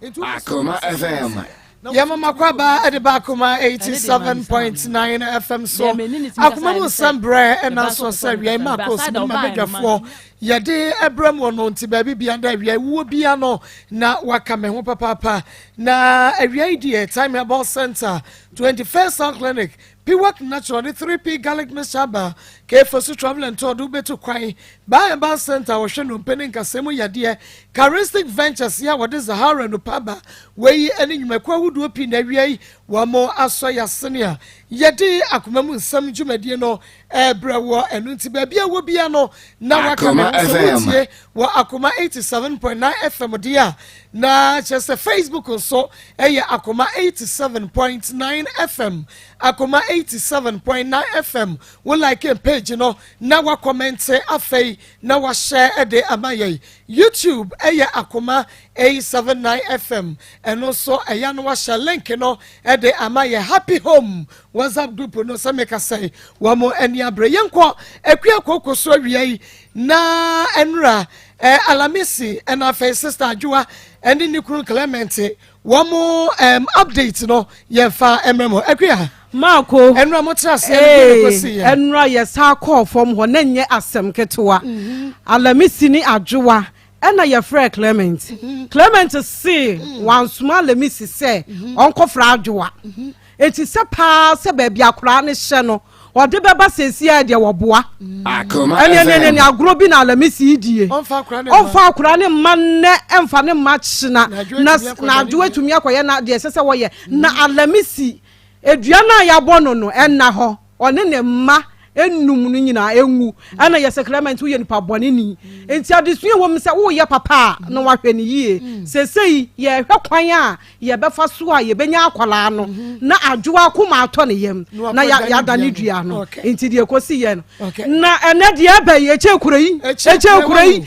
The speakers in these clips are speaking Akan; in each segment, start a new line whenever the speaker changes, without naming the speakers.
Akoma FM. yɛma mo akwabaa de ba akoma 87.9 fm so akoma mu nsɛm berɛ ɛna so sɛ awia ma kɔ so ma badwafoɔ yɛde ɛbrɛ mu no nti baabi bia da awia wuo bia no na waka me ho papaapa na awia yi deɛ time herbal center 21st sound clinic Piwak Natural de 3P Garlic Mixture aba Kefo so Travel and Tour de wubetu kwan ba Herbal Centre a wɔhwɛ nnompe ne nkasɛɛ mu yadeɛ, Charistic Ventures yi a wɔde Zahara nnupa aba, wei yi ne nnwumakuo ahodoɔ pii na awia yi wɔn asɔ yɛ ase nea yɛde akoma mu nsɛm dwumadie no ɛrebrɛ woɔ, ɛno nti baabi a ɛwɔ biara no na waka me ho sɛ wotie. wɔ akoma eighty seven point nine fm deɛ a na kyerɛ sɛ facebook nso yɛ akoma eighty seven point nine fm akoma eighty seven point nine fm wo like page no na wa kɔmɛnte afei na wa hyɛ de ama yɛn youtube yɛ akoma eight seven nine fm ɛno nso ɛyɛ no wahyɛ link no de ama yɛ happy home whatsapp group no sɛ meka sɛ wɔn ani abere yɛn kɔ akua koko so awia yi. Na nnora eh, Alamisi ɛna afei Sister Adwoa ɛne ne kunu Clement wɔn um, update no yɛn fa ɛmɛ mu akuya. maako ɛnura mo tena ase ɛnu ko si yɛ ɛnura yɛ saa kɔɔ fam hɔ na nyɛ asɛm ketewa mhm. alamisi ne adwowa ɛna yɛfrɛɛ clement mhm. clement see mhm. wansoma lemisi sɛ mhm. ɔnkɔfra adwowa enti sɛ paa sɛ baabi akoraa ne hyɛ no ɔde bɛba sɛsia deɛ wɔboa ɛneɛneɛneɛne agorɔ bi na lemisi yi die ɔmfa akora ne mma nnɛ ɛmfa ne mma kyena na adwowa atumi akɔyɛ na deɛ ɛsɛ sɛ wɔyɛ na alamisi adua no a yɛabɔ no no ɛnna hɔ Ɔne ne mma nnum
no nyinaa enwu. Ɛna yɛ sacrament woyɛ nipa bɔne ni. Nti adesua ɛwɔ mu sɛ woyɛ papa a na wahwɛ no yie. Sesei yɛhwɛ kwan a yɛbɛfa so a yɛbɛnya akwadaa no na adwoa akoma atɔ ne yam na yɛadane dua no. Nti deɛ ɛkɔsi yɛ no. Na ɛnɛ deɛ ɛbɛn ɛkyɛ kura yi. Ɛkyɛ kura yi.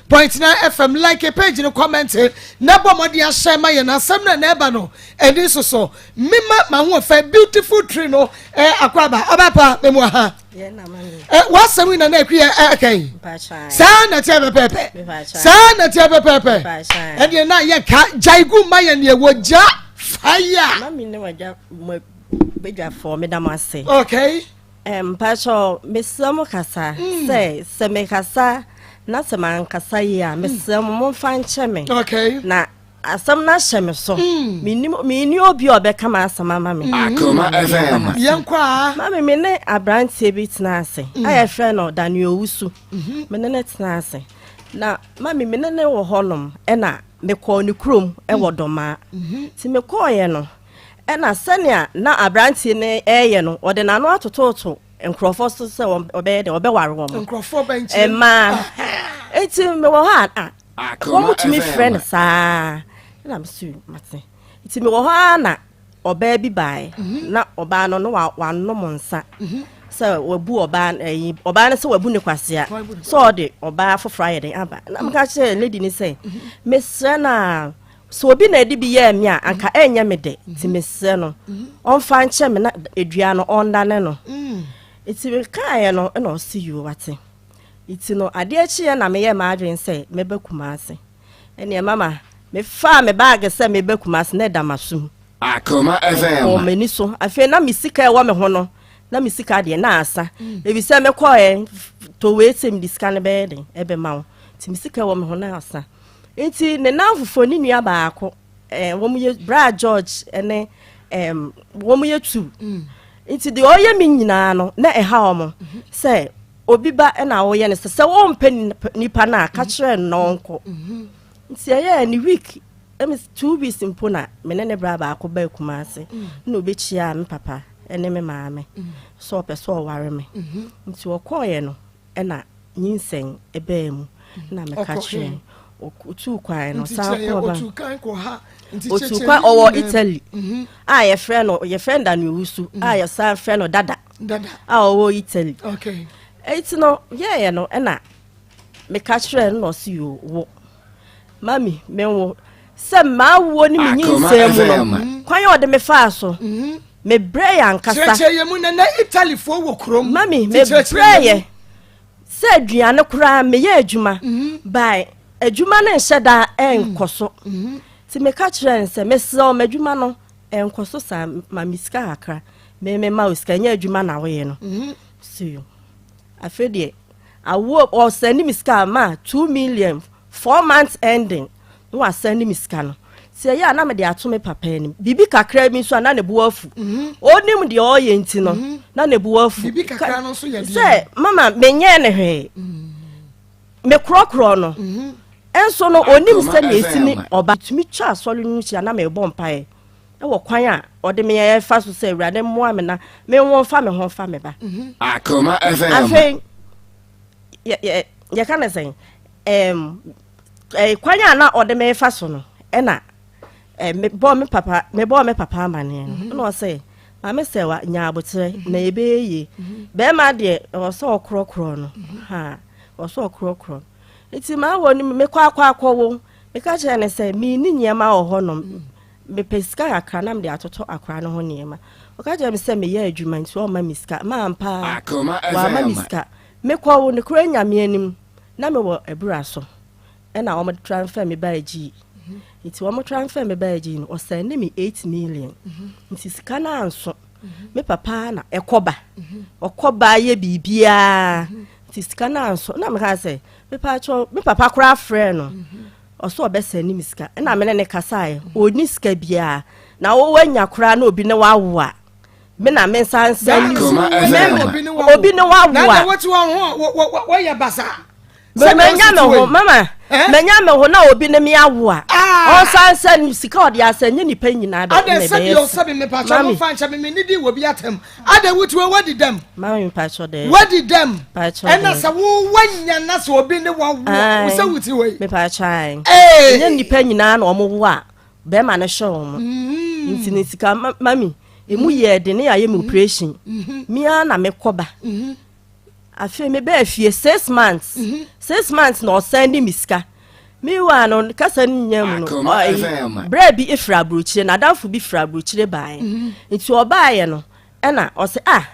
Point nine FM like page no comment na bɔ mmɔden ahyɛ ma yɛn asɛm na na ɛba no ani nsoso mema m'ahoɔfɛ beautiful tree no ɛ akɔ aba ɔba pa memu aha ɛ w'asɛm yi na na ɛkwi yɛ ɛka yi saa na tiɛ pɛpɛpɛ saa na tiɛ pɛpɛpɛ ɛdeɛ na yɛ ka gyae gu ma yɛn deɛ wɔ gya fire. Mami ne wagya
mo badwafoɔ meda mo ase. Okay.
Mpatsɔ
mesrɛ mo kasa mm. sɛ sɛ mekasa na sɛ mankasa yi a mesrɛ mo momfa nkyɛ me na
asɛm
no ahyɛ me so mm. menni obi a ɔbɛka ma asɛm ama me
mame
me ne
aberanteɛ bi tena ase a mm. yɛfrɛ no dane owu so mhm. mene ne tena ase na mame mene ne wɔ hɔnom ɛna mekɔɔ ne kurom ɛwɔ dɔmaa nti mekɔɔyɛ no Ɛnna sɛnea na aberante no reyɛ no, ɔde n'ano atototo nkurɔfoɔ so sɛ ɔbɛyɛ dɛ ɔbɛware wɔn. nkurɔfoɔ bɛnkyɛn
mmaa
nti mewɔ hɔ a wɔmutumi frɛ no saa na mesu mate nti mewɔ hɔ a na ɔbaa bi baeɛ mhm. na ɔbaa no no wanom nsa mhm. sɛ wabu ɔbaa ɛyi eh, ɔbaa no sɛ wabu ne kwasea sɛ ɔde ɔbaa foforɔ ayɛ den aba na meka kyerɛ lady ni sɛ mhm. mesrɛ no a Sɛ obi na ɛde bi yɛɛ me a, anka ɛnyɛ me dɛ. Nti mhm. mesrɛ no, mhm. ɔmfa nkyɛ me na edua no ɔndane no. Mm. Nti mekaeɛ no na ɔse yoo wate. Nti no adeɛ kyeeɛ na meyɛ m'adwene sɛ mɛba Kumase. Ɛneɛ mama mefaa me baage sɛ meba Kumase na ɛda m'asom. Akoma
FM. Ɔwɔ m'ani so. Afei
na me sika ɛwɔ me ho no na me sika deɛ na asa. Mm. Ebi sɛ mekɔɛ towee sɛ mede sika no bɛyɛ den ɛbɛma wo. Nti me sika ɛwɔ me ho na asa. Nti ne nnamfofoɔ ne nua baako eh, wɔn yɛ bra George ne eh, wɔn yɛ tu. Mm. Nti deɛ ɔyɛ me nyinaa no na ɛha wɔn mm-hmm. sɛ obi ba na ɔyɛ no sɛ sɛ wɔmpɛ nipa no a ka mm-hmm. kyerɛ no na ɔnkɔ. Mm-hmm. Nti ɛyɛ ne week ɛmi two weeks mpo na me ne ne bra baako ba akuma ase mm. na obekyia me papa ne me maame sɛ ɔpɛ sɛ ɔware me. Nti ɔkɔɔyɛ no. na nyinsɛn baa mu na meka kyerɛ no otuu kwan no san kɔɔ ba otuu kwan kɔ ha otuu kwan ɔwɔ italy mhm. a yɛfrɛ no yɛfrɛ no daniel wusu a mhm. yɛsan frɛ no dada a ɔwɔ italy
eti no
yɛɛyɛ no ɛna meka kyerɛ no na ɔsi yoo wo. mami menwo sɛ mmaa wuo ne me nyinsɛn mu no mm-hmm. kwan a ɔde me faa so mm-hmm. mebrɛ yɛ ankasa kyerɛkyerɛ yɛ mu nana
italifoɔ wɔ kurom mami mebrɛ
yɛ sɛ aduane koraa meyɛ adwuma mm-hmm. bae adwuma no nhyɛ daa ɛnkɔ mm. so nti meka kyerɛ n sɛ mesrɛ ɔma adwuma no ɛnkɔ so saa ma me sika kakra meme ma wo sika nyɛ adwuma na woyɛ no so Afei deɛ awoɔ ɔ sɛndi me sika a ma two million four months ending na wa sɛndi me sika no sɛ ɛyɛ a na mede ato me papa anim biribi kakra bi nso a na ne bo afu ɔnim mhm. deɛ ɔyɛ nti no mhm. na ne bo afu
sɛ mama menyɛ
ne hwee mhm. mekorɔkorɔ no ɛnso no ɔnim sɛdeɛ ɛsi ne ɔba tumi twa asɔre no nhyia na mebɔ mpaeɛ wɔ kwan a ɔde me yɛ fa so sɛ awurade mmoa me na menwo fa me ho fa me ba mhm. akoma fm
afei
yɛka ne sɛn kwan a na ɔde me fa so no ɛna mebɔɔ me papa mebɔɔ me papa amaneɛ no mhm. na ɔsɛ maame sɛ wa nya aboterɛ mhm. na ɛbɛyɛ yie bɛrima deɛ ɔsɛ ɔkorɔkorɔ no ha ɔsɛ ɔkorɔkorɔ nti maa wɔ no mekɔ akɔ akɔwo Meka kyerɛɛ no sɛ, Menni nneɛma wɔ hɔnom. Mepɛ sika kakra na mede atoto akora no ho nneɛma. Ɔka kyerɛɛ me sɛ meyɛ adwuma nti ɔmma me sika. Maa ampa ara, wamma me sika. Mekɔɔ wo nokorɛ Nyame anim, na mewɔ abura so, ɛnna wɔde transfɛɛ me baa Gyii. Nti wɔn transfɛɛ me baa Gyii no, ɔsɛnde me eight million. Nti sika no anso. Me papa na ɛkɔba. Ɔkɔba yɛ biribiara. Nti sika no anso. Na mekaa sɛ, mepatwɔ me papa koraa frɛɛ no ɔsɛ ɔbɛsɛne me sika ɛna mene ne kasaeɛ ɔni sika biara na wowanya koraa na obi ne wawo a me na me nsa nsa ni obi ne wawo a
wɔyɛ basa manya
me ho mama manya me ho na obi ne me awo a ɔnsa nsa ni sika ɔde asɛ nye nipa nyinaa bɛ ɛna ɛbɛyɛ
mami Adɛn wo tiwɔ wadi dɛm. Maame mpatsɔ dɛ.
Wadi dɛm. Mpatsɔ
dɛ. Ɛna sɛ wo wa nya na sɛ obi ne wa wo sɛ wo tiwɔ yi. Mepatsɔ ayi.
Ee. Nye nipa nyinaa na wɔn wo a bɛrima no hyɛ wɔn. Mm-hmm. Nti ne sika mami emu yɛ den ne yɛ ayɛ mi mm-hmm. operation. Mm-hmm. Mia na mekɔba. afei mebɛɛ fie six months mhm. six months na ɔsan ne me sika mewa no kasa no nya mu no berɛ bi firi aburokyire na adamfo bi firi aburokyire baeɛ mhm. nti ɔbaeɛ no ɛna ɔsɛ a ah,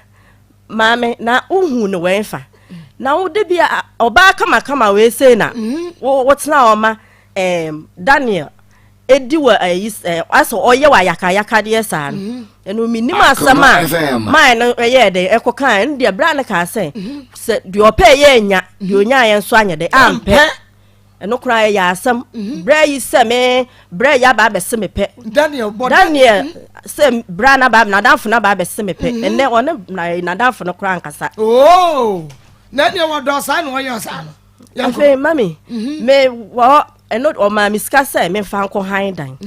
maame na wohu no wɛn fa mhm. na wode bi ɔbaa kamakama wei sei na wotena ɔma daniel ɛdi wɔ ayi eh, ɛ asɛ ɔyɛ wɔ ayakayakadeɛ saa no mhm. ɛno menim asɛm a mae no ɛyɛ dɛ ɛkɔ kaa ɛno deɛ berɛ a no kaa sɛ mhm. sɛ deɛ ɔpɛ yɛ anya deɛ mhm. ɔnyaeɛ nso anyɛ dɛ ampɛ ɛno koraa ɛyɛ asɛm berɛ yi sɛ me berɛ yɛ aba abɛse me pɛ daniel sɛ berɛ naba nadamfo no aba abɛse me pɛ ɛnɛ ɔne nadamfo no koraa nkasa oh,
na deɛ wɔdɔ saa na ɔyɛ saa no afei mami
mhm. me wɔ ɛno ɔmaa me sika sɛ mefa nkɔ han dan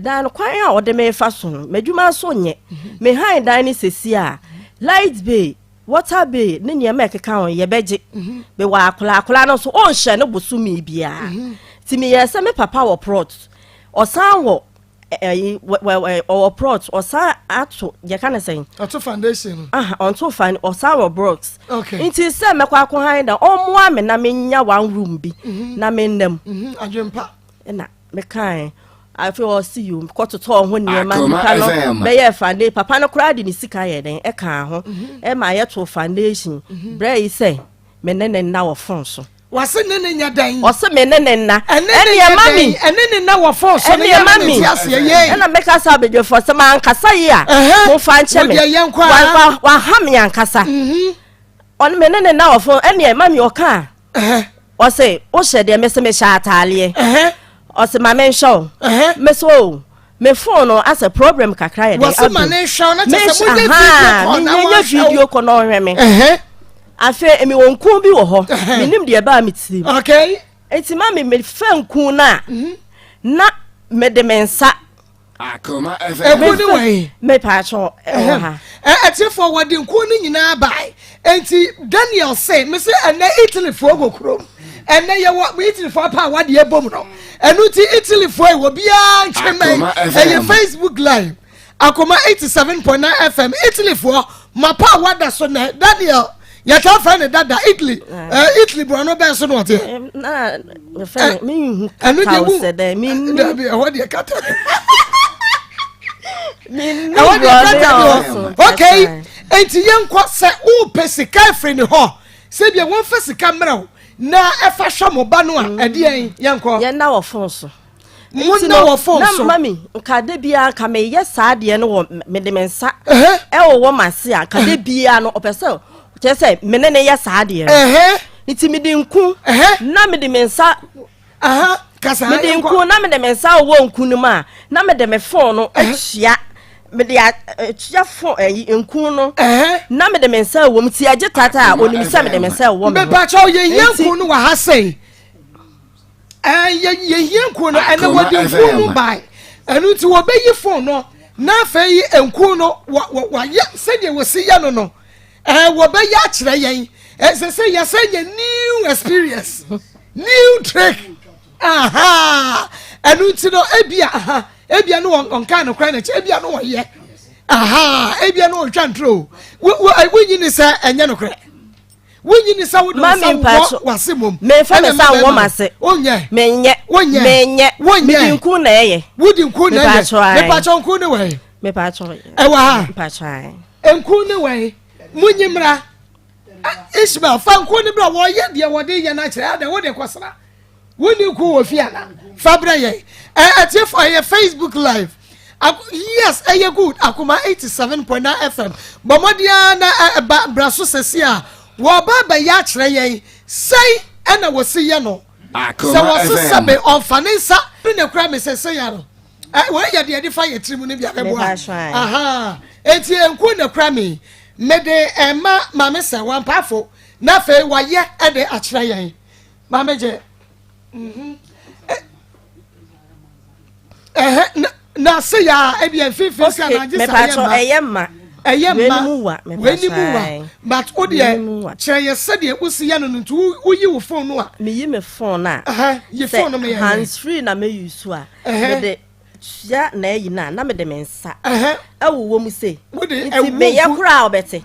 dan no
kwan a
ɔde mefa so no m'adwuma so nyɛ mhm. me han dan no sɛsi a light bay water bay ne nneɛma ɛkeka ho yɛbɛgye mhm. mewɔ akora akora no nso ɔnhyɛ no bosome biara nti meyɛ sɛ me papa wɔ prot ɔsan wɔ ɛyi ɔwɔ plot ɔsan ato yɛ ka ne sɛn. ɔto foundation no.
aha ɔnto fan
ɔsan wɔ blocks. okay nti sɛ mɛkɔ
akɔ
han da ɔmoa me na menya one room bi. Mhm. na me nam. Mhm. adwempa.
ɛna
mekae afei ɔsi yi kɔtotɔ ɔho nneɛma nipa no bɛyɛ fande papa no koraa de ne sika yɛ dɛn ɛka ho mhm. ɛma yɛto foundation brɛ yi sɛ me ne ne nna wɔ fon so. Wɔse ne ne nyɛ
dɛn. Ɔse me ne ne nna. Ɛne
ne nyɛ dɛn. Ɛne ne nna wɔ fon
so. Ɛne ma mi.
Ɛna me kasa abadwafo sɛ ma nkasa yi a. Mo fa nkyɛ me. Wɔdeɛ yɛn kɔ a. Waha me ankasa. Mhm. Ɔne me ne ne nna wɔ fon. Ɛne ma mi ɔka a. Ɔse wohyɛ deɛ me se mehyɛ ataaleɛ. Ɔse ma menhwɛ o. Mese o. me phone no asɛ problem kakra yɛ dɛ adu
mesh ahaa menyanya video kɔ na ɔhwɛ
me afei emi wɔn kun bi wɔ hɔ menim deɛ ɛbaa me tirim eti
ma me
mefa nkun no a mhm. na mede me nsa ɛkun
ne wɔ
he mepaakyɛ ɛwɔ
ha ɛtiefo wɔde
nkun no nyinaa bae Enti Daniel se, Mese ɛnnɛ Italyfoɔ wɔ kurom. Ɛnnɛ yɛwɔ Italyfoɔ apa a wɔde abom no. Ɛno nti Italyfoɔ yi wɔ biara ntwe mɛn. Ɛyɛ Facebook Live. Akoma 87.9 FM Italyfoɔ mapa a wɔada so nɛ Daniel yɛtaa frɛ no dada italy eh, italy borɔno bɛn so na ɔteɛ
ɛno deɛ wu dabi ɛhɔ deɛ kata
ɛwɔ deɛ brada bi hɔ ok enti yɛnkɔ sɛ wopɛ sika afiri ne hɔ sɛ bia wɔmfa sika mmerɛ wo na ɛfa hwɛ mo ba no a mm. ɛdeɛn yɛnkɔ yɛnna wɔ fon so
monna wɔ
fon so na mami nka da
biara nka meyɛ saa deɛ no wɔ mede me nsa ɛwɔ wɔ mase a nka da biara no ɔpɛ sɛ kyerɛ sɛ mene ne yɛ saa deɛ no nti mede nku na mede me nsa
mede
nku na mede me nsa wowɔ nku no mu a na mede me fon no akyia mede akyia fon ayi nku no na mede me nsa wɔ mu ti agye tata a onim sɛ mede me nsa wɔ mu. mepakyɛw yɛhia nku
no wɔ ha sɛn yɛhia nku no ɛnɛ wɔde nku no bae ɛno nti wɔbɛyi fon no na afei nku no wɔyɛ sɛdeɛ wɔsi yɛ no no Eh, wɔbɛyɛ akyerɛ yɛn. Ɛsɛ sɛ yɛsɛ yɛ new experience, new trick. Aha, ɛnu nti no ebia aha ebia no wɔn nkaa no kwan n'akyi ebia no wɔn yɛ. Aha, ebia no wɔn twa ntoro. Wo wo eh, wonyi ni sɛ ɛnyɛ no korɛ. Wonyi ni sɛ wode nsa wɔ wase mom. Mɛnfa ne nsa wɔ
mase. Wonyɛ. Mɛnyɛ.
Wonyɛ.
Mɛnyɛ. Wonyɛ. Midi nku na ɛyɛ. Wodi nku na ɛyɛ. Mepatwa.
Mepatwa nku ne wɔ yɛ. Mepatwa.
Ɛwɔ ha. Mepatwa. Nku ne wɛn,
munyi mmra. Ishmael, fa nku ne bra, wɔyɛ deɛ wɔde yɛ no akyerɛ, adɛn wode kɔsra? Wonni nku wɔ fie ana? Fa brɛ yɛn. Atiefo ɛyɛ Facebook live. Yes, ɛyɛ good. Akoma 87.9 FM. Bɔ mmɔden ara na ɛba bra so sɛsi a wɔba abɛyɛ akyerɛ yɛn. Sɛi ɛna wɔsi yɛ no. Sɛ wɔsesa me ɔmfa ne nsa ne kura me sɛ sɛya no. Ɛɛ eh, wei yɛ deɛ yɛde fa yɛ tirim no bi abɛboa. Ahaa eti nku na kura mi mede ɛma eh, maame sɛ wampaafo na afei wayɛ ɛde akyerɛ yɛn maame gye. Mhm. Ɛhɛ eh, na se ya ebi mfimfini sɛ na agye sa yɛ ma. Ɛyɛ ma. Ɛyɛ
ma wɛni mu wa
wɛni mu wa but o deɛ kyerɛ yɛ sɛdeɛ o si yɛ no no nti o yi o phone no a. Mi yi mi phone a.
Ɛhɛ yi phone no mi yɛ.
Hands free na mi yi
su a. mede sua na ayi no a na mede me nsa ɛwowɔ mu sei nti meyɛ koraa a ɔbɛte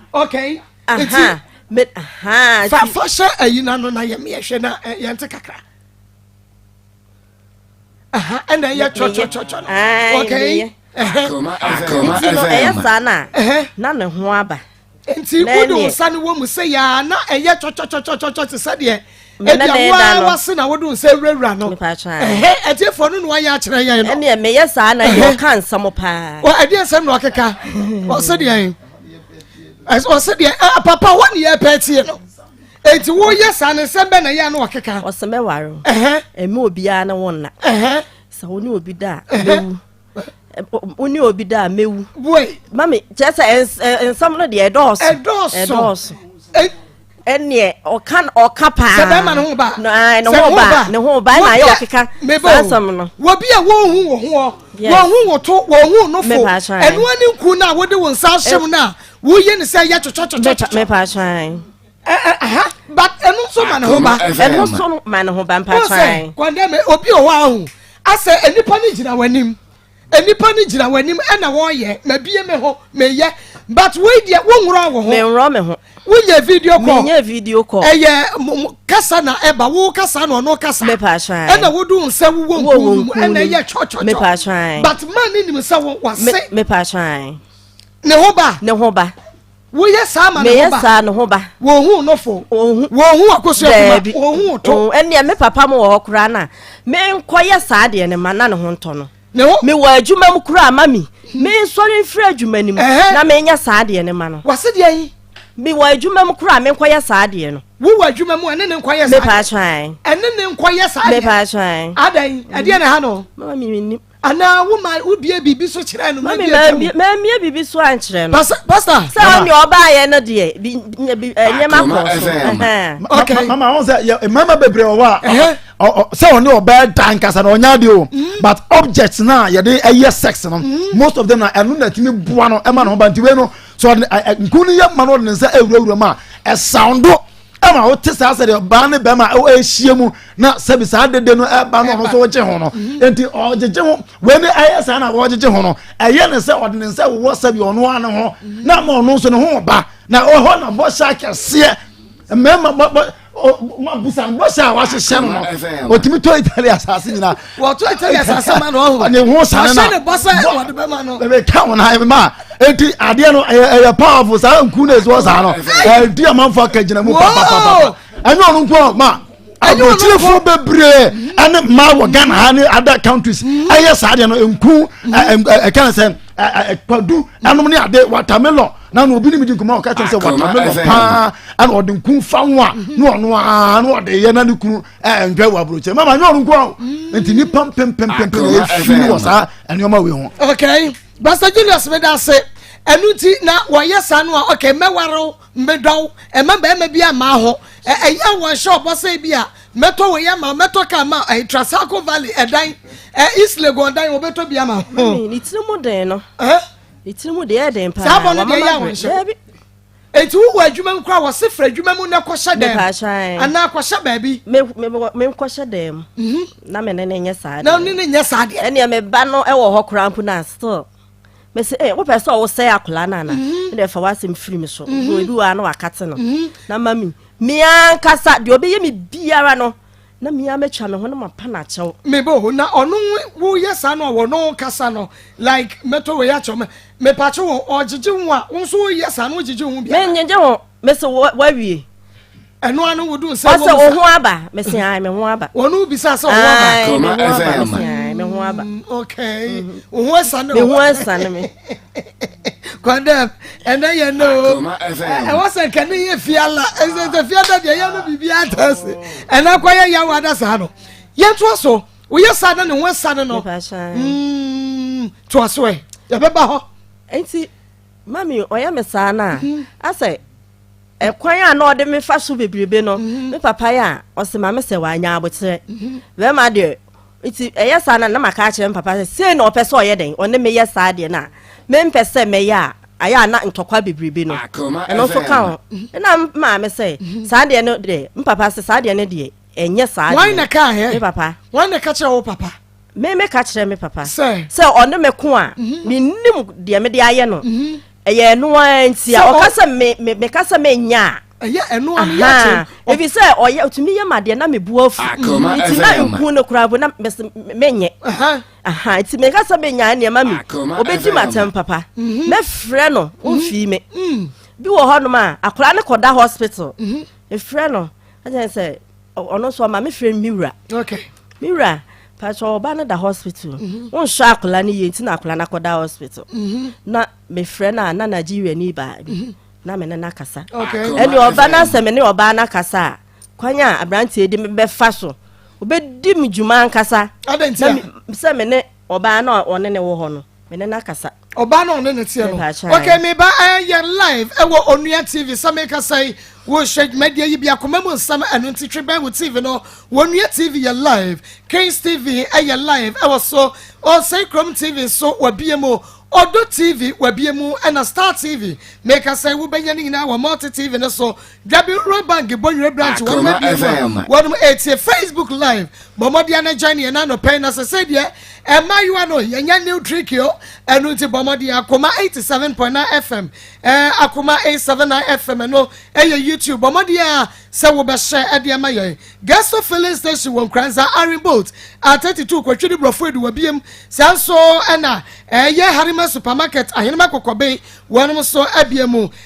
fa hyɛ ayi no ano na yɛmeyɛhwɛ na yɛnte kakra ɛna ɛyɛ twɔtwɔtwɔtwɔ
no okay nti no ɛyɛ saa no a
na ne ho aba nti wode
wo nsa no wɔ mu sɛ yɛa na ɛyɛ twɔtwɔtwɔtwɔtwɔ te sɛ deɛ ɛdeɛ waa wase na wode wo nsa awurawura no ɛhɛ atiefoɔ no na wayɛ akyerɛ yɛn no ɛneɛ meyɛ saa na yɛ
ɔka nsɛm paa ɛdeɛ nsɛm na ɔkeka
ɔsɛ deɛ ɔsɛ deɛ papa hɔ ne yɛ pɛ tie no eti woyɛ saa ne nsɛm bɛ na yɛ ano ɔkeka ɔsɛ mɛware
ɛmɛ obiara ne wo nna sɛ wo ne obi da a bɛwu wo ne obi da a mɛwu boy mami
kyerɛ sɛ
nsɛm no deɛ ɛdɔɔso ɛdɔɔso ɛneɛ ɔka ɔka paa sɛ bɛrima
ne ho ba ne ho ba ne ho
ba ɛna ayɛ ɔkeka saa nsɛm no wɔbi a wɔnhu wɔ
hoɔ wɔnhu wɔ to wɔnhu nofo ɛnoa ne nku no a wode wo nsa ahyem no a woyɛ ne sɛ yɛ twetwɛtwetwetwetwɛ
aha
but ɛno nso ma ne ho ba ɛno nso ma ne ho
ba mpatran kɔndɛm obi wɔ hɔ
ahu asɛ nipa no gyina w'anim nipa no gyina w'anim ɛna wɔyɛ mabie me ho meyɛ but wei deɛ wonworɔ wɔ ho menworɔ me ho
wonyɛ video call
menyɛ video call ɛyɛ
kasa
na ɛba wo kasa na ɔno kasa mepatran ɛna wodu
sɛ wowɔ
nkuu mu ɛna ɛyɛ twɔtwɔtwɔ mepatran but
man ne nim sɛ
wase mepatran
ne ho ba
ne ho ba Woyɛ saa ma ne ho ba. saa ne ho ba. Wɔhu no fo. Wɔhu. Wɔhu ɔkoso akuma. Daabi. Wɔhu to. Wɔn ɛnneɛ me papa mo wɔ hɔ
koraa na me nkɔyɛ saa deɛ ne ma na ne ho ntɔ no. Ne ho. Me wɔ adwuma mu koraa ma mi. Me nsɔre mfiri adwuma no mu. Ɛhɛn. Na me nyɛ saa deɛ ne ma no. Wɔsi deɛ yi.
Me wɔ adwuma
mu koraa me nkɔyɛ saa deɛ no. Wo wɔ adwuma mu ɛne ne
nkɔyɛ saa. Me pa atwan. Ɛne ne nkɔyɛ saa
deɛ.
Me pa atwan.
Adan ɛdeɛ na ha
no. Mama mi mi nim.
anaa wo ma wo
bie biribi so kyerɛ no na bi atwa mu.
mɛmie biribi so ankyerɛ no. pasa pasa. sɛ ɔne
ɔbaayɛ
no deɛ bi bi nneɛma kɔ so. ok mama ɔn sɛ
yɛ mmarima bebree wɔ hɔ a sɛ ɔne ɔbɛɛ da nkasa na ɔnya de o mm. but object na yɛde ɛyɛ sex no mm. most of them na ɛno na ɛtumi boa no ɛma no ho ba nti wei no so ɔde nkun no yɛ ma no ɔde ne nsa awurawura mu a ɛsawundo. ɛma wote saa sɛ deɛ ɔbaa ne bɛrima ɛhyia mu na sɛbi saa dede no ɛba no ɔno nso wogye ho no mhm. nti ɔgyegye ho wei ne ɛyɛ saa na wɔgyegye ho no ɛyɛ ne sɛ ɔde ne nsa wowɔ sɛbi ɔno ano ho mhm. na ama ɔno nso ne ho ba na ɔhɔ na bɔhyɛ akɛseɛ mmarima bɔ bɔ busa bɔhyɛ a wahyehyɛ no no ɔtumi tɔ itali asase nyinaa wɔto ɛtɛ yɛ
sase ma no ɔho ɔne ho sane na ɔhyɛ ne bɔ
sɛ wɔde
bɛma no ɛbɛ ka wɔn ayɛ ma
eti adeɛ no ɛyɛ ɛyɛ powerful saa nku na esi wɔ saa no ɛdi amanfo aka gyina mu papapapa ɛnyɛ ɔno nko ma aburokyerefo bebree ɛne mmaa wɔ ghana ha ne other countries ɛyɛ saa deɛ no nku ɛka ne sɛ ɛkwadu ɛnom ne ade watermelon na na obi ne mi di nkɔmɔ ɔka kyerɛ sɛ watermelon paa ɛna ɔde nku fa ho a na ɔno aa na ɔde yɛ na ne kunu ɛɛ ntwa wɔ aburokyɛ mama nyɛ ɔno nko awo mm. nti nipa mpempempempem ah, yɛ fi wɔ saa nneɛma wei ho. okay pastor
julius mi da se ɛnu ti na wɔyɛ saa no a okay mɛwariw mbɛdɔw ɛmɛ bɛrima bi ama ho ɛyɛ wɔn hyɛ ɔbɔsɛ bi a mɛtɔ wɔ yɛ ma mɛtɔ kaa ma ɛyɛ trasaco valley ɛdan ɛ east legon dan wɔbɛtɔ bi ama. mami ne tiri mu den
no ne tiri mu deɛ ɛden paa saa bɔ no deɛ yɛ wɔn
hyɛ. Eti wowɔ adwuma mu koraa wɔse fira adwuma mu na kɔhyɛ dɛm. Mepaakyɛ ae. Anaa kɔhyɛ baabi. Me me me me nkɔhyɛ
dɛm. Mhm. Na me ne ne nyɛ saa deɛ. Na ne ne nyɛ saa deɛ. Ɛnneɛ
me ba no ɛwɔ
hɔ koraa mpo na still. Me se eh wopɛ sɛ ɔwo sɛ akwadaa no ana? Mhm. Ɛnneɛ fa w'asɛm firi me so. Mhm. Ebi wɔ ha na wakate no. Mhm. Na mami me ankasa deɛ ɔbɛyɛ me biara no. Na me ara mɛtwa ne ho na mapa no akyɛw. Me bo wo na ɔno
woyɛ saa no a wɔ no kasa no like mɛtɔ wei akyɛw me mepakye wo ɔgyegye ho a wo nso woyɛ saa no wogyegye ho biara. Mengyegye ho mese
wawie. Ɛno ano
wo do nsɛ wɔ mu sa. Ɔsɛ wo ho aba
mese ae me ho aba. Wɔn no bisa sɛ wo ho aba.
Ae me ho aba mese ae
me ho aba.
Okay.
Wo ho asane. Me ho asane me. kɔndɛm ɛnɛ yɛ no ɛwɔ sɛ
nka ne yɛ
fiala ɛsɛ sɛ fiada deɛ yɛ no biribi ata ase ɛnɛ akɔ yɛ yawo ada saa no yɛntoa so woyɛ saa na ne ho asa no no mm, toa so ɛ yɛbɛba hɔ nti
mami ɔyɛ me saa no a mhm. asɛ ɛkwan a na ɔde me fa so bebrebe no mhm. me papa yɛ a ɔsɛ ma me sɛ wanya abokyerɛ mhm. bɛrima deɛ Nti ɛyɛ saa no a, na maka akyerɛ me papa sɛ, sei na ɔpɛ sɛ ɔyɛ dɛn, ɔne me yɛ saa deɛ no a, mempɛ sɛ mɛyɛ a, ayɛ a na ntɔkwa bebrebe no, ɛno nso ka ho. Ɛna me maame sɛ, saa deɛ no deɛ, me papa sɛ, saa deɛ no deɛ, ɛnyɛ saa deɛ. Wan na ɛkaa hɛ? Me papa.
Wan na ɛka kyerɛɛ
wo papa?
Me meka kyerɛɛ
me papa. Sɛ? Sɛ ɔne me
ko a,
mennim deɛ mede ayɛ no. ɛyɛ ɛno ara nti a ɔka sɛ me me meka sɛ menyɛ a ɛyɛ ɛno ara yɛ
akyerɛ ebi sɛ ɔyɛ
otumi yɛ ma deɛ na me bu afu nti na nkun no koraa bo na menyɛ nti meka sɛ menya nneɛma mi obɛdi ma atɛm papa mhm. mɛfrɛ no ɔmfii mhm. me mhm. bi wɔ hɔnom a akora ne kɔda hospital mefrɛ no ɛkyɛn sɛ ɔno nso ɔma me frɛ me wura me wura patro ɔba no da hospital mhm. wonhwɛ akwadaa no yie nti na akwadaa no akɔda hospital mhm. na mefrɛ no a na nigeria ni baa bi mhm. na me ne no akasa ɛne ɔba no
asɛ me
ne ɔbaa no akasa a kwan a aberanteɛ de bɛfa so obɛdi me dwuma ankasa
sɛ me ne
Ɔbaa no a ɔne ne wɔ hɔ no, me ne no akasa. Ɔbaa no a ɔne ne teɛ
no. Ok, me ba ɛɛ yɛ live ɛwɔ Onua TV sɛ me kasa yi. Wo hyɛ dwumadie yi bi akoma mu nsɛm ɛno nti twe bɛn wo TV no. Wɔ Onua TV yɛ live. Kings TV ɛyɛ live ɛwɔ so. Ɔsɛe Kurom TV nso wɔ abie mu. Ɔdɔ TV wɔ abie mu ɛna Star TV. Me kasa yi wo bɛnya ne nyinaa wɔ Multi TV no so. Dabi Rural Bank Bonyere Branch wɔn mu abien mu a wɔn mu etie Facebook live bɔ mmɔden na join yɛn anɔpɛ na sɛsɛ deɛ mmaayewa no yɛnyɛ new trick o ɛnu nti bɔ mmɔden akoma eighty seven point nine fm ɛɛ akoma eight seven nine fm ɛno ɛyɛ YouTube bɔ mmɔden a sɛ wɔbɛhyɛ ɛde ɛma yɛn Gesto filling station wɔ Nkranza Iron Bolt a thirty two kɔtwi de borɔfo edu wɔ biem saa nso ɛna ɛyɛ Harima supermarket ahenema kɔkɔben wɔn nso abie mu.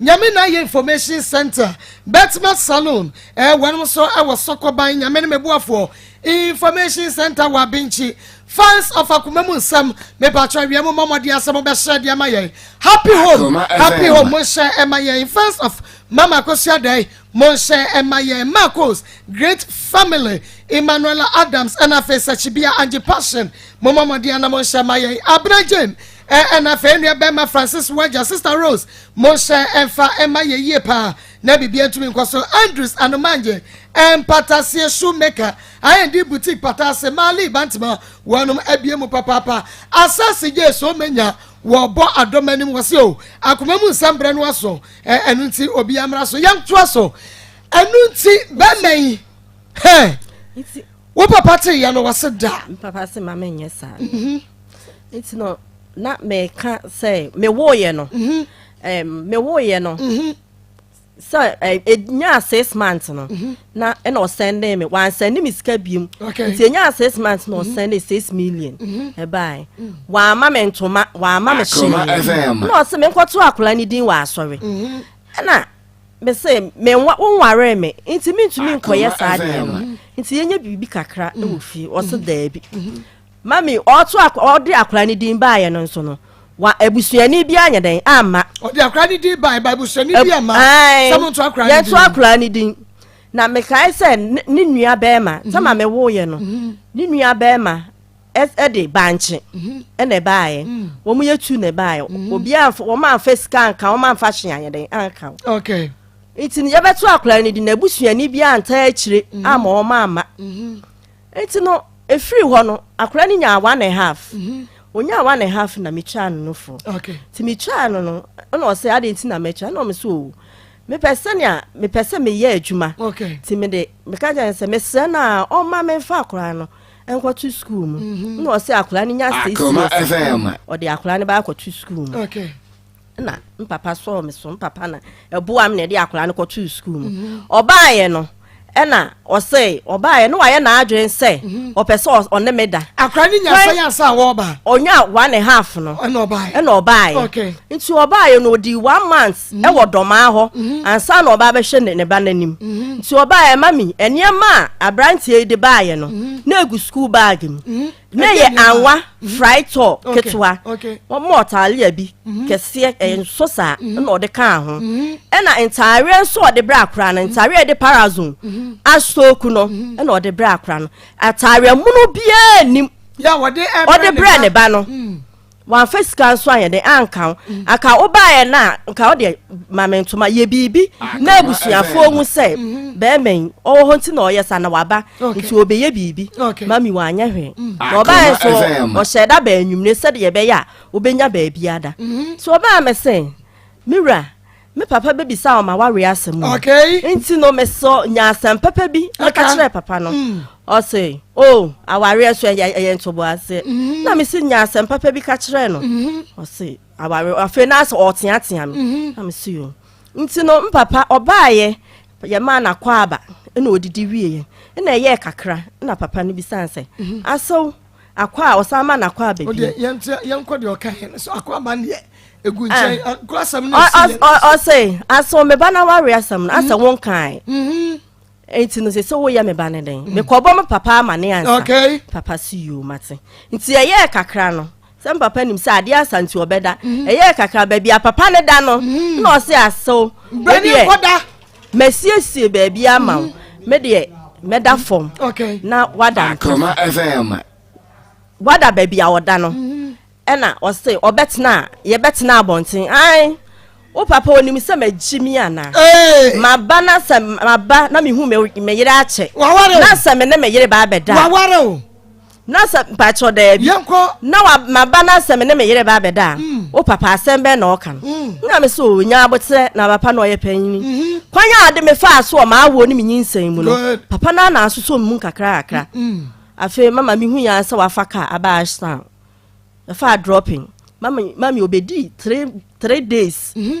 Nyame na yɛ information center bɛtema salon eh wɛnom nso ɛwɔ sɔkɔ ban nyame ne me boafoɔ information center wɔ abenkyi fans of akoma mu nsɛm me patro awia mu mɔmɔden asɛ mo bɛhyɛ deɛ ma yɛn happy home happy home mo nhyɛ ɛma yɛn fans of mama kosua dɛn mo nhyɛ ɛma yɛn marcos great family emmanuela adams ɛna afei sɛ chibia angie passion mo mɔmɔden ana mo nhyɛ ɛma yɛn abena jane Ɛna afei nua bɛma Francis wagya Sister Rose mo hyɛ ɛmfa ɛma yɛ yie paa na bibia ntumi nkɔ so Andrews Anomangye Mpataseɛ Shoemaker IND Boutique Pataase Marley Bantema wɔnom abie mu papaapa Asase gye so menya wɔbɔ adɔm anim wɔ se o akoma mu nsɛm brɛ no aso ɛno nti obi amra so yɛm to aso ɛno nti bɛma yi hɛ wo papa te yɛ no wɔ se da papa se ma menyɛ
saa mhm. nti no na meka sɛ mewoeɛ no mhm. mewoeɛ no mhm. sɛ ɛnyaa eh, six months no mhm. na ɛna ɔsɛnde me wansɛnde me sika biom nti ɛnyaa six months na ɔsɛnde six million ɛbae mm. wamma me ntoma wamma me hyeneɛ na ɔse menkɔto akora no din wɔ asɔre ɛna me se me nwa wo nware me nti mentumi nkɔyɛ saa deɛ no nti yɛnyɛ biribi kakra wɔ fie ɔse daabi Mami ɔto ɔde akwadaa ne din baayɛ no nso no wa abusuani bi anyɛ dɛn amma. ɔde akwadaa ne din
baayɛ ba abusuani bi amma sɛ mo nto akwadaa ne din. yɛnto akwadaa ne din
na mekae sɛ ne nua bɛrima sɛ ma mhm. me wo yɛ no mhm. ne nua bɛrima ɛde bankye mhm. ɛna ɛbaayɛ mm. wɔn yɛ tu na ɛbaayɛ obi anfa wɔn anfa sika anka wɔn anfa hyɛn anyɛ dɛn anka. okay.
nti yɛbɛto
akwadaa ne din na abusuani bi anta akyire ama wɔn amma. nti no ɛfiri hɔ no akora no nyaa one and half ɔnyaa mhm. one and half na metwaa no no fo nti metwaa no no ɛna ɔsɛ ade nti na mɛtwa ɛna ɔme sɛ o mepɛ sɛnea mepɛ sɛ meyɛ adwuma nti mede meka kyɛ sɛ mesrɛ no a ɔma memfa akora no nkɔto sukuu mu mhm. na ɔsɛ akora no nya six years ɔde akora no bɛakɔto sukuu mu na me papa sɔɔ me so me papa na ɛboa me na ɛde akwadaa no kɔtoo sukuu mu mhm. ɔbaayɛ no ɛna ɔsɛ ɔbaayɛ no wayɛ n'adwene sɛ mhm. ɔpɛ sɛ ɔne me da. akora ne nyasa yasa
a wɔba. onya one and half
no. ɛna ɔbaayɛ ɛna ɔbaayɛ. okay nti ɔbaayɛ no odi one month mhm. ɛwɔ dɔmaa hɔ ansa na ɔba abɛhyɛ ne ne ba n'anim nti ɔbaayɛ mami nneɛma a aberanteɛ yi de baayɛ no na egu sukuu baagi mu ne yɛ anwa fry tɔ ketewa wɔn ɔtaalia bi mhm. kɛseɛ ɛyɛ nso saa mhm. ɛna ɔde kaa ho mhm. ɛna ntaareɛ nso ɔde brɛ akora no ntaareɛ ɛde parazon asooku no ɛna ɔde brɛ akora no ataareɛ mono biara nim
ɔde brɛ ne
ba no. wamfa sika nso anyɛ dɛ anka ho mm. anka wobaeɛ no a nka wodeɛ mame ntoma yɛ biribi ah, na abusuafoɔ hu sɛ mm-hmm. bɛrima yi ɔwɔ hɔ nti na ɔyɛ sa na waba nti ɔbɛyɛ biribi mami wanyɛ hwee mm. na ah, ɔbaeɛ nso ɔhyɛ da baa anwummere sɛdeɛ ɛbɛyɛ a wobɛnya baabi ada mm-hmm. nti ɔbaa me sɛ me wura me papa bɛbisaa ɔma wareɛ asɛm mu okay. nti no mesɔ nya asɛm pɛpɛ bi na ka kyerɛ papa no mm. ɔse o oh, awareɛ so ɛyɛ ntoboaseɛ mm-hmm. na mese nya asɛm papa bi ka kyerɛ no mm-hmm. ɔse awareɛ afei na asɛ ɔteatea me mm-hmm. na mese yo nti no mpapa ɔbaayɛ yɛmaa nakɔ aba ɛna ɔdidi wieɛ ɛna ɛyɛɛ kakra na papa no bisane sɛ asɛw akɔ a ɔsan ma n'akɔ aba bi. o deɛ yɛn tia yɛn kɔ deɛ ɔka
yɛn no so akɔ aba deɛ egu nkyɛn ah. akɔ asɛm no esi yɛn. ɔsɛ
asɛm meba na wari asɛm no asɛ wɔn kan. nti no sɛ sɛ woyɛ me ba ne dɛn mekɔbɔ me papa ama ne ansa okay. papa si yoo mate nti ɛyɛɛ kakra no sɛ papa nim sɛ adeɛ asa nti ɔbɛda ɛyɛɛ kakra baabi a papa ne da no na ɔse asɛw bɛdeɛ
masiesie
baabi ama wo mm-hmm. me deɛ mɛda fam na wada akoma fm
wada
baabi a ɔda no mm-hmm. ɛna ɔse ɔbɛtena a yɛbɛtena abɔnten ae wo papa onim sɛ magyi mi anaa maba na sɛ maba na mehu meyere akyɛ na sɛ me ne meyere baa bɛda waware o
na sɛ
mpakyɛw daabi na maba na sɛ me ne me yere ba abɛda a mm. wo papa asɛm bɛn na ɔka no mm. na me sɛ ɔnya aboterɛ na papa na ɔyɛ panyini mm-hmm. kwan a ade mefaa so ɔma awoɔ ne menyinsɛn mu no papa no ana asosɔ mu kakrakakra afei mama mehu yɛn sɛ wafa ka aba ashtown ɛfaa dropping mami obedi three three days. Mm-hmm.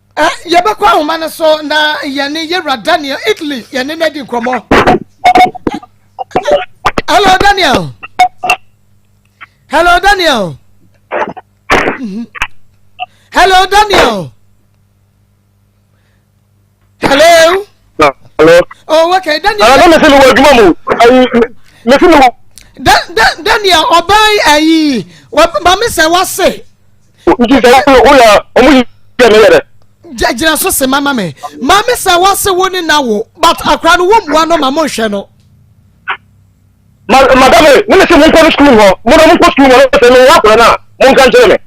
yɛbɛkɔ ahoma no so na yɛne yɛwura daniel italy yɛne no adi nkɔmmɔ hello daniel hello daniel mhm. hello daniel hello hello oh okay daniel ah, daniel sẹ́ni wọ ẹ̀dùnmọ̀ mu
mẹ́sìn mi wọ. daniel
ọba ayi maame sẹ́ wá sè. Nti sɛ
wo wo yɛ ɔmo yi yɛ ne yɛ dɛ. Gyina so
se mama me. Maame sɛ wɔ se wo ne na wo but akora no wo mua no ma mo nhwɛ no. Ma
madam e ne me se mo nkɔ no school hɔ mo na mo nkɔ school hɔ sɛ me yɛ akora no a mo nka nkyerɛ me.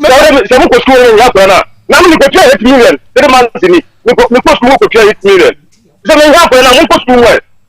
Sɛ mo nkɔ school hɔ yɛ akora no a na me kɔ tua eight million three months ni me kɔ school mo kɔ tua eight million sɛ me yɛ akora no a mo nkɔ school hɔ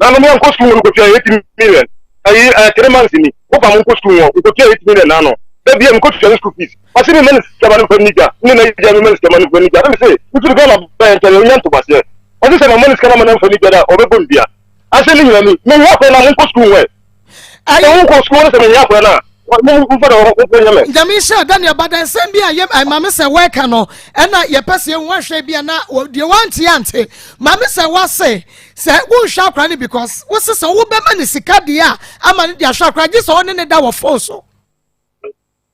Na no menkɔ sukuu no kotua eight million ayi ɛɛ three months ni wo fa mo nkɔ sukuu wɔn nkotua eight million n'ano da bia mekɔ tua ne school fees ɔsi mi ma ne sika ma ne nfa ne gya ne na gya mi ma ne sika ma ne nfa ne gya ne mi se nti gana bɛn ntɛnɛ onya ntomaseɛ ɔsi sɛ ma ma ne sika ma ne nfa ne gya da ɔbɛbɔ ne dua asɛ ne nyina ni mehwɛ kɔ na mo nkɔ sukuu wɔn Ɛyɛ wo nkɔ sukuu no sɛ mehia akora no a, mfa na wɔmfa
nyɛ me. Nyame nhyira Daniel badɛnsɛm bi a yɛ maame sɛ wɔreka no ɛna yɛpɛ sɛ yɛhu ahwɛ bi a na deɛ wante ante maame sɛ wase sɛ wonhwɛ akora no because wose sɛ wobɛma ne sika deɛ a ama no de ahwɛ akora gye sɛ ɔne ne da wɔ fon so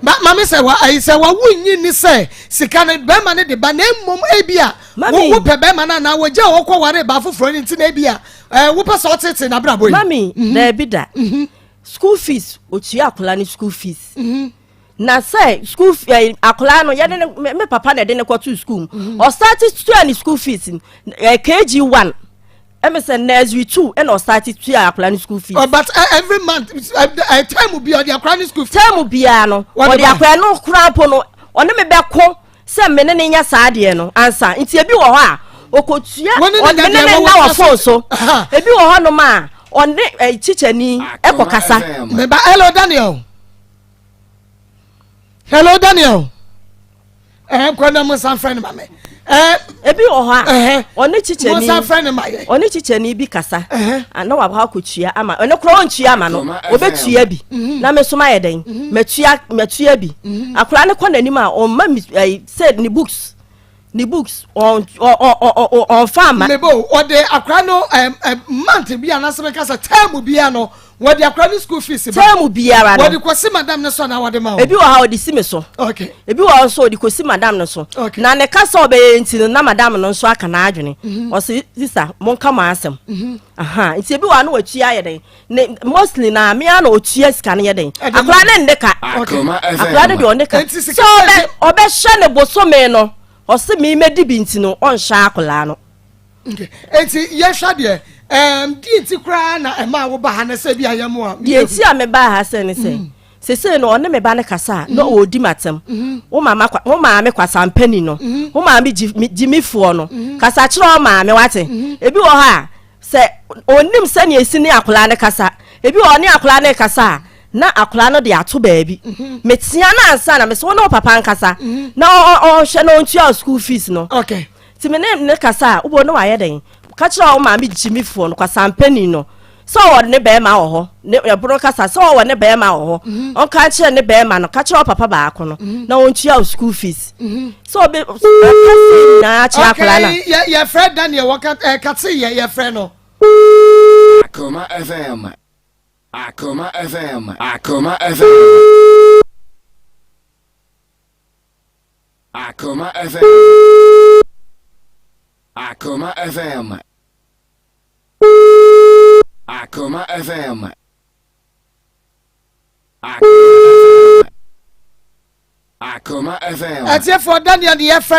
maame
sɛ wa ayi sɛ wawo nyi ni sɛ sika no bɛrima no de ba na mmom ebi a wopɛ bɛrima no anaa wɔgya a wɔkɔ ware ba afoforɔ no nti na ebi a ɛɛ wopɛ sɛ ɔtete n'abrabɔ yi. mami mhm. dɛbi da
mhm. school fees otua akwadaa no school fees. Mhm. na sɛ school ɛɛ akwadaa no yɛde ne me papa na ɛde ne kɔto school mu ɔsaate tua ne school fees ɛɛ kg one. ɛmi sɛ nursery two ɛna ɔsan ti tua akwadaa ni school fees. but uh, every month
uh, uh, time bi ɔdi akwadaa ni school fees. time biara no
ɔdi akwadaa no kura mpo no ɔne mi bɛ ko sɛ mi ne ne nya saa adeɛ no ansa nti ebi wɔ hɔ a okotua ɔne ne ne na wɔ phone so ebi wɔ hɔ nom a ɔne ɛ teacher ni ɛkɔ kasa. mɛ ba hello
daniel hello daniel. ɛhɛn kɔ na mo nsa nfrɛ no ma mɛ ɛhɛn. ebi wɔ
hɔ a ɔne kyikyɛni mo nsa nfrɛ no ma yɛ
ɔne kyikyɛni bi kasa
na waba hɔ akɔ tua ama ɔne kora ɔntua ama no ɔbɛtua bi mhm. na me nso mayɛ dɛn mhm. matua matua bi mhm. akora ne kɔ n'anim a ɔmma mi ɛyi sɛ ne books ne books ɔn ɔn ɔn ɔnfa ama. mebo ɔde akora
no ɛɛ ɛɛ mante bi a n'asɛm kasa tɛɛmu bi a no. wɔde akora ne school fees ba tɛɛmu biara no wɔde
kɔsi madam no
so
na
wɔde ma wɔn ebi wɔ ha wɔde si mi so
okay ebi wɔ nso
wɔde
kɔsi madam no so okay na ne kasa ɔbɛyɛ nti no na madam no nso aka n'adwene mhm. ɔsi sisa mo nka mo asɛm mhm. aha nti ebi wɔ ha no wɔtua yɛ dɛ ne mostly na mmea na ɔtua sika no yɛ dɛ akora ne nde ka akora ne deɛ ɔne ka so ɔbɛ ɔbɛhyɛ ne bosome no ɔsi mi mɛ di bi nti no ɔnhyɛ akora no.
Eti yɛhwɛ deɛ ɛɛm di nti koraa na ɛmaa wo ba ha na sɛ bi a yɛ mu a. Deɛ nti a me ba ha
sɛ ne sɛ. Mm. sese no ɔne me ba no kasa a na mm-hmm. ɔredi m'atɛm mm-hmm. wo maame kwasampani no mm-hmm. wo maame gyimifoɔ no kasa kyerɛ wo maame wate ebi wɔ hɔ a sɛ ɔnim sɛnea ɛsi ne akoraa no kasa ebi wɔ ɔne akoraa no kasa a na akoraa no de ato baabi metea no ansa na mesɛ wo ne wo papa nkasa na ɔhwɛ na ɔntua school fees no okay. Nti me ne
no
kasa a, wobɛhu no wayɛ dɛn? Ka kyerɛ wo maame gyimifoɔ no, kwasampani no, sɛ ɔwɔ ne bɛrima wɔ hɔ, ne ɛbono kasa, sɛ ɔwɔ ne bɛrima wɔ hɔ, mhm. ɔnka nkyerɛ ne bɛrima no, ka kyerɛ papa baako no, mhm. na ɔntua wo school fees. Mhm. Sɛ ɔbɛ nyinaa kyerɛ akwadaa no. Yɛfrɛ Daniel,
wɔka eh, katse yɛ yɛfrɛ no.
Akoma FM. Akoma FM. Akoma FM. Akoma FM. Akoma FM. Akoma FM. Akoma FM. Ɛtiɛfoɔ dani ɛni
ɛfɛ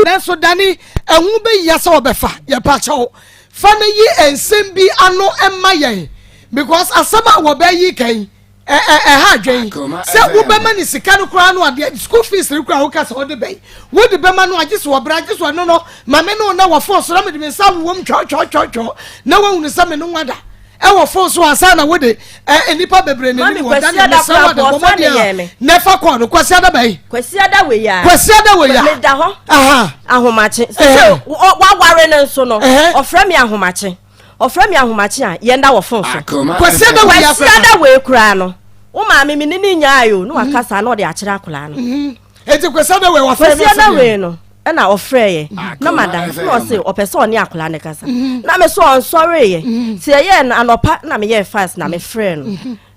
nanso dani ɛho bɛ yia sɛ ɔbɛfa yɛpa kyɛw fa ne yi nsɛm bi ano ɛma yɛn because asɛm a wɔbɛyi kan. ɛha adwene yi sɛ wobɛma ne sika no koraa no adeɛ school fees no koraa woka sɛ wode bɛyi wode bɛma no agye so wɔbrɛ agye so ɛno no ma me no na wɔ fon so na mede me nsa wowom twɔtwɔtwɔtwɔ na woahunu sɛ me no wada ɛwɔ fon so ansa na wode nnipa bebree ne ne wɔ da ne mesɛ wɔ de bɔmmɔ deɛ na ɛfa kɔɔ no kwasi ada bɛyi kwasi ada wei ya
kwasi ada wei ya meda hɔ ahomakye sɛ waware no nso no ɔfrɛ me ahomakye Ɔfrɛ me ahomakye a, yɛn da wɔ fon so. Kwasiada wei asɛm.
Kwasiada wei koraa no,
wo maame me ne ne nyae o, na waka mhm. saa na ɔde akyerɛ akwadaa no. Mhm. Eti kwasiada
wei wafrɛ me asɛm. Kwasiada wei no
ɛna ɔfrɛ yɛ ah, na madam na ɔse ɔpɛ sɛ ɔne akwadaa no kasa mhm. na me so ɔnsɔre yɛ sɛ ɛyɛ no anɔpa na meyɛ fast na mefrɛ no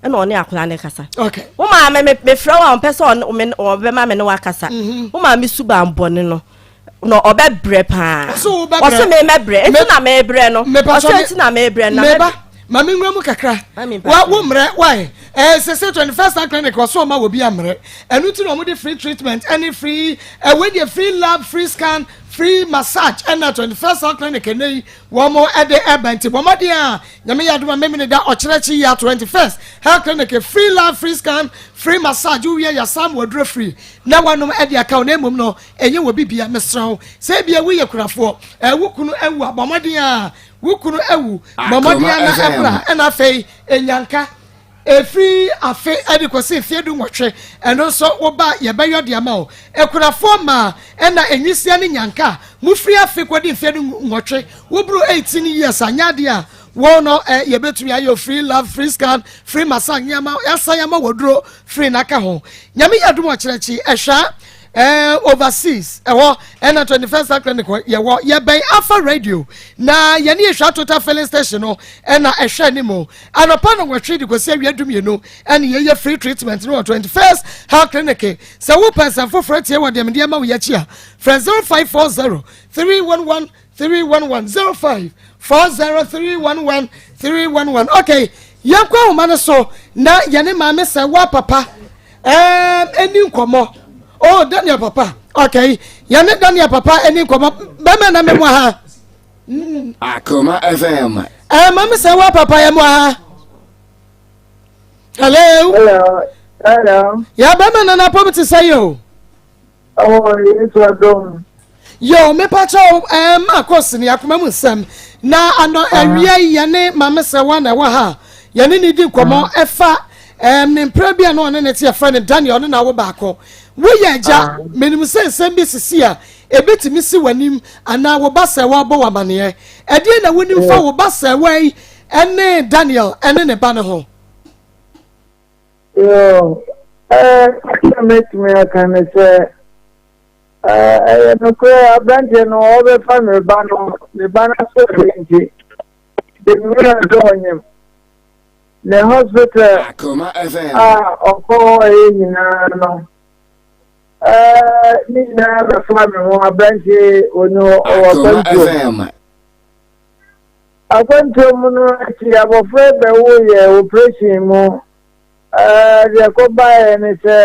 ɛna ɔne akwadaa no kasa wo maame
mefrɛ
wo a ɔmpɛ sɛ ɔbɛma me ne wakasa wo maame suban bɔne no na ɔbɛbrɛ paa ɔse
memɛbrɛ ɛnti
na mebrɛ no ɔsɛ ɛnti na mebrɛ no meba ma me nwura mu
kakra wo mmerɛ wae ɛsɛ sɛ 21st star clinic ɔso ɔma wɔ bi ammerɛ ɛno ti na ɔmode free treatment ɛne free ɛwei deɛ free lab free scan free massage ɛna 21st star clinic ɛnɛ yi wɔn mo ɛde ɛba nti bɔ mmɔden a nyame yɛ adoma mmemmene da ɔkyerɛ kyi yɛ 21st health clinic free lab free scan free massage wowie yɛ sam wɔduro free na wɔnom ɛde aka wɔn mmom no Ɛnyɛ wɔ bibia mesrɛ wo sɛ ebia woyɛ kurafoɔ ɛɛ wo kunu awu a bɔ mmɔden a wo kunu awu bɔ mmɔden a na ɛbra ɛna afei enyanka efiri afe ɛde kɔsi mfeɛ du nwɔtwe ɛno nso wo ba yɛbɛyɔ deɛ ma wo ekurafoɔ maa ɛna enwisia ne nyanka mo firi afe kɔdi mfeɛ du nwɔtwe wo buru eighteen years a nyɛ adeɛ a wɔn no ɛ yɛbɛtumi ayɛ free love free scan free massage nneɛma yɛasan ama wɔ duro free n'aka ho nyame yɛ adum ɔkyerɛkyi ɛhwɛ Eh, overseas ɛhɔ eh, ɛna eh, twenty first clinic hɔ yɛwɔ yɛbɛn afa radio na yɛne yɛhwɛ atota filling station no ɛna eh, ɛhwɛ ne mu anɔpa no wɔtwe de kɔsi awia dum yɛnu ɛne yɛyɛ free treatment no wɔ twenty first health clinic sɛ wo pɛnsɛn foforɔ tie wɔ deɛ medeɛ ma wo yɛakyi a frɛ zero five four zero three one one three one one zero five four zero three one one three one one okay yɛn kɔ ahoma no so na yɛne maame sɛ wa papa ɛɛm ɛni nkɔmɔ oh daniel papa okay yɛne daniel papa ɛni nkɔmɔ bɛmɛ na mɛ mu ha. Mm. akoma
fm. ɛɛ eh, maame sɛ wa
papa yɛ mu ha. hello. hello. hello. yɛ bɛmɛ nana pɔm ti sɛ yɛ o.
Ɔwɔ Yesu adom. Yo,
mepakyɛ wo eh, Marcos ne akoma mu nsɛm. Na anɔ ah. awia yi yɛne Maame Sɛwa na ɛwɔ ha. Yɛne ne di nkɔmmɔ ah. ɛfa eh, ne mpere bi a na ɔne ne te yɛfrɛ no Daniel ne n'awo baako. Woyɛ agya, ah. menim sɛ nsɛm bi sisi a ebetumi si w'anim anaa wo ba Sɛwa bɔ w'amaneɛ. Ɛdeɛ na wonim fa wo ba Sɛwa yi ɛne Daniel ɛne ne ba no ho.
Sɛ mɛtumi aka ne sɛ ɛyɛ nokorɛ aberanteɛ no ɔbɛfa ne ba no ne ba no asɔre nti de nwura sɛ ɔnyem ne hospital
a ɔkɔ hɔ
ɛyɛ nyinaa no ne nyinaa bɛfa me ho aberanteɛ ɔni hɔ ɔwɔ kwantuo Akwantuo mu no akyi abɔfra yi bɛwo yɛɛ oprehyɛn mu, deɛ ɛkɔ baeɛ ne sɛ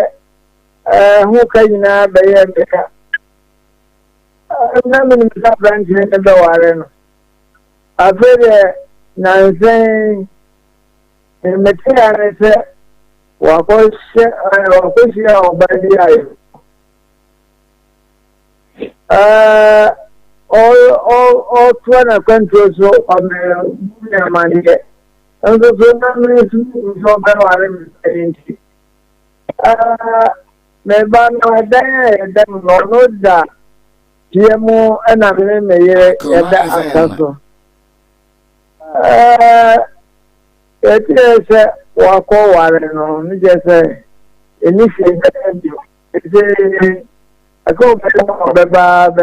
ɛho ka nyinaa bɛyɛɛ me ka. Na menim sɛ aberanteɛ no bɛware no. Afei deɛ nnansa yi deɛ mete a ne sɛ wakɔhyɛ wakɔhyia ɔbaa bi a yɛwɔ ɔtoa n'akwantuo so ɔbɛyɛ ne amanneɛ nso so na mesu gu sɛ ɔbɛware me pɛn nti me ba no ɛdan a yɛda mu no ɔno da fie mu ɛna me ne me yere yɛda asa so yɛteɛ sɛ wakɔ ware no ne kyɛ sɛ ɛni fie bɛyɛ bio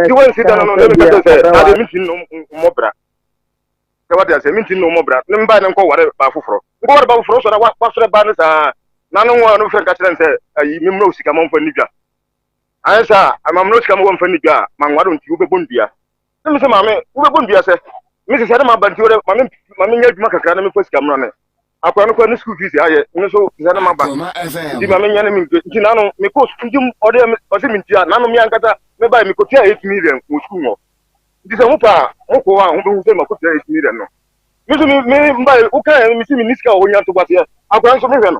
Ti wɔn si dano no
ne mi ka kyerɛ sɛ ade mi ti no mmɔ bra. Sɛ wate ase mi ti no mmɔ bra ne mba ne nkɔ ware ba foforɔ. Nkɔ ware ba foforɔ sɔ na wa wafrɛ ba ne saa. Na ne nwa no fɛ nka kyerɛ sɛ ayi mi mmerɛ osika ma nfa ni dwa. Ayɛ saa a ma mmerɛ osika ma wɔnfa ni dwa a ma nwa do nti wobɛbɔ ndua. Ne mi sɛ maame wobɛbɔ ndua sɛ mi sesa ne ma ba nti wɔdɛ ma mi ma mi nyɛ adwuma kakra na mi fa sika mmra ne. akora no kora ne school fees ayɛ no so te sɛ ne ma ba nti ma menyɛ ne mentue nti nano mekɔ nti ɔde ɔse mentua nano me ankasa mebae mekɔtua 8 million wɔ school hɔ nti sɛ mopa a mokɔ a mobɛhu sɛ makɔtua 8 million no me so me mbae wokaɛ mese menni sika wɔ hɔ nya ntoboaseɛ akora nso mehwɛ no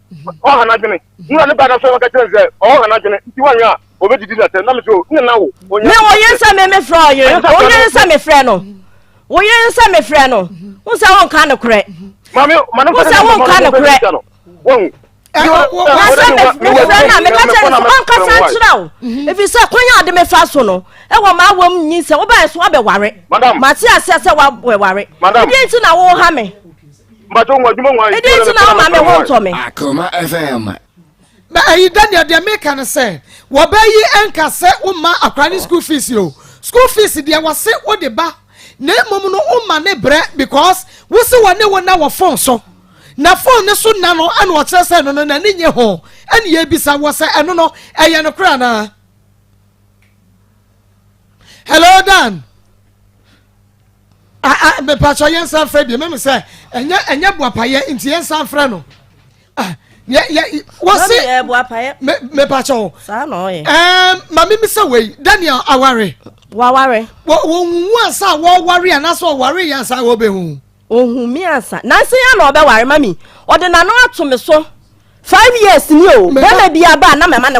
ɔha n'adwene nna ne ba na sɛ wɔka kyerɛ sɛ ɔha n'adwene nti wɔnyɛ a ɔbɛdidi na sɛ na me sɛ o
ne na
wo ɔnyɛ
me
ɔyɛ
nsɛ me
me
frɛ ɔyɛ
ɔyɛ
nsɛ
me
frɛ
no
woyɛ nsɛ me frɛ no wo sɛ wo nka no korɛ wo
sɛ wo nka no korɛ nasɛ mefrɛ no a meka kyɛ no
sɛ ɔnkasa nkyerɛ wo ɛfiri sɛ kwan a ɔde mefa so no ɛwɔ ma awɔ m nyi sɛ wobɛɛ so abɛware mate aseɛ sɛ woabɛware ɛdeɛ nti na woha me
ɛdi nti na woma me ho
ntɔ me akoma fm
na ɛyi
daniel deɛ meka no sɛ wɔbɛyi ɛnka sɛ woma akora ne school fees o school fees deɛ wɔse wode ba na mmom no woma ne brɛ because wosi wɔ ne wo na wɔ phone so na phone ne so na no ɛna ɔkyerɛ sɛ ɛno no na ne nye ho ɛne yɛ bisa wɔ sɛ ɛno no ɛyɛ no kora naa hello dan mepatɔ yɛn san frɛ bi mɛmi sɛ ɛnyɛ ɛnyɛ buapayɛ nti yɛn san frɛ no yɛ yɛ wɔsi
mepatɔ o
ɛɛ
maame mi sɛ
wei daniel aware waware wɔ wɔn nwu ansa wɔware anaasɛ ɔware yɛn ansa wɔbɛ hu. ohun mi ansa
nansi yɛn na ɔbɛ ware mami ɔde n'ano ato mi so five years ni o bɛrɛ bi aba anam ɛma ne kɔ.